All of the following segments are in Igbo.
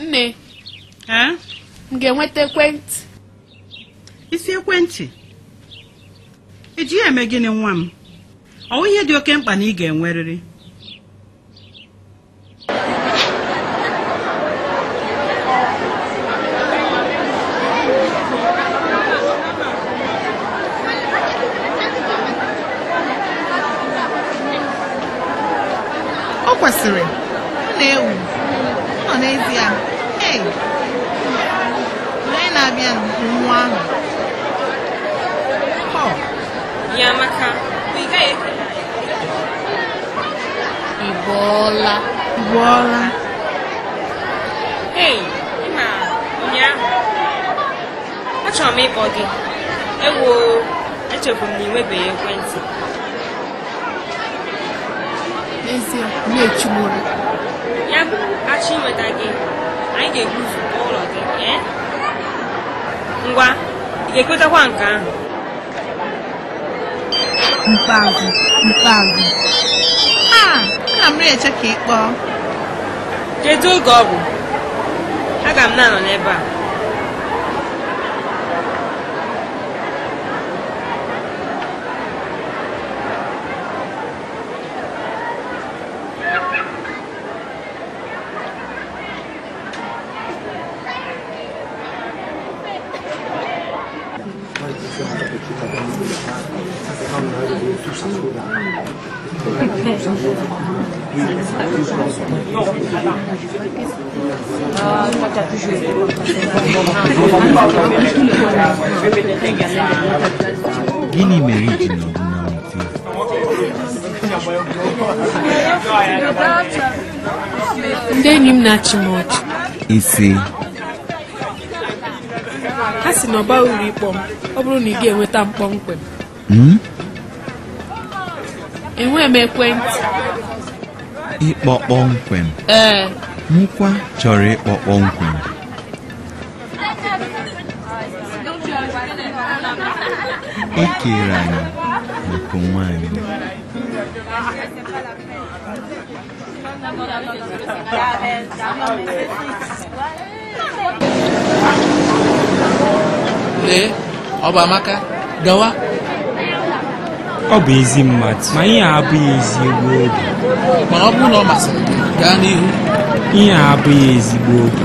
nne m ga-enweta ekwentị ị sị ekwentị i ji ya eme gịnị nwa m ọ bụ ihe dị oke mkpa na ị ga-enwerịrị o kwesịrị ọ na-ewu ọ nọ n'ezie hey onye na-abịa nwa ahụ Paul ya maka bụ ị gaghị ekele Ị bọọla. Ị bọọla. Hey, ị ma ụnyaahụ achọrọ m ịkpọ gị ewo echefuru m na ị nwebeghị ekwentị n'ezie na-echigburu ya bụ achọ inweta gị anyị ga-ebu ụzọ kpọọ ụlọ gị ee ngwa ị ga-ekwetakwa nke ahụ mkpeazụ mkpeazụ ana m eche ka ị kpọọ kedu oge ọ bụ aga m na-anọ n'ebe a Gịnị mere i ji nọrọ naanị gị. Ndị enyi m na-achị m ọchị. Isi. ha sị na ọ baghị uru ịkpọ m ọ bụrụ na ị ga-enweta m kpọmkwem hmm? enweghị m ekwentị ịkpọ kpọmkwem ee mụkwa chọrọ ịkpọ kpọmkwem e kere anyị maka onwe anyị lee ọ bụ Amaka gawa ọ bụ ezi mmadụ ma ihe a abụghị ezigbo oge mana ọ bụrụ na ọ masịrị gị gaa n'ihu ihe a abụghị ezigbo oge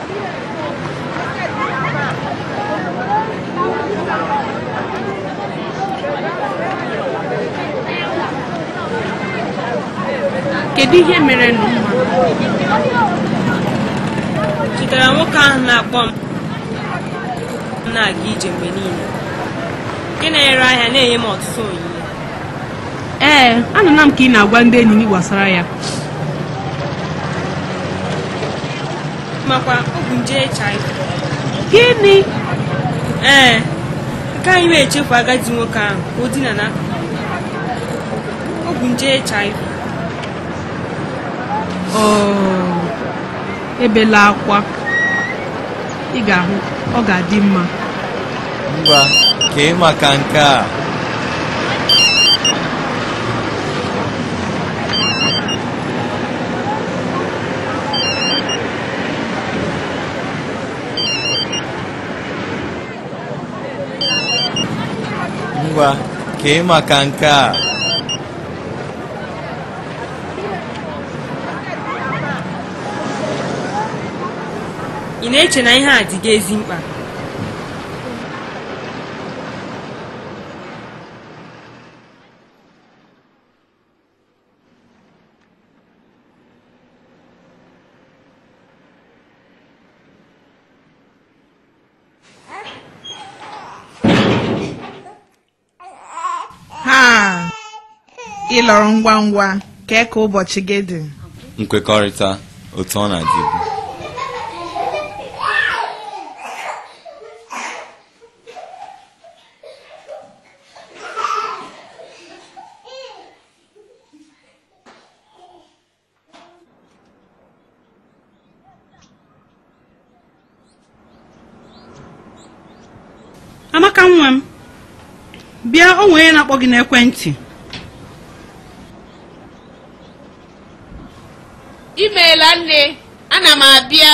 kedu ihe merenụ chetara nwoke ahụ na-akpọ m na-aga ije mgbe niile nke na-ere ahịa na-enye m ọtụtụ onyinye ee anụla m ka ị na-agwa ndị enyi gị gbasara ya makwa o bu nje HIV gịnị ee nke anyị na-echefu agadi nwoke ahụ ka o dina na o bu nje HIV oh. ebela akwa ị ga-ahụ ọ ga-adị mma ngwa kee maka nke a ị na-eche na ihe a dị gị ezi mkpa ha ị lọrọ ngwa ngwa kee ka ụbọchị gị dị nkwekọrịta otu ọ na-adịbu amaka nwa m bịa o nwere onye na-akpọ gị n'ekwentị imeela nne ana m abịa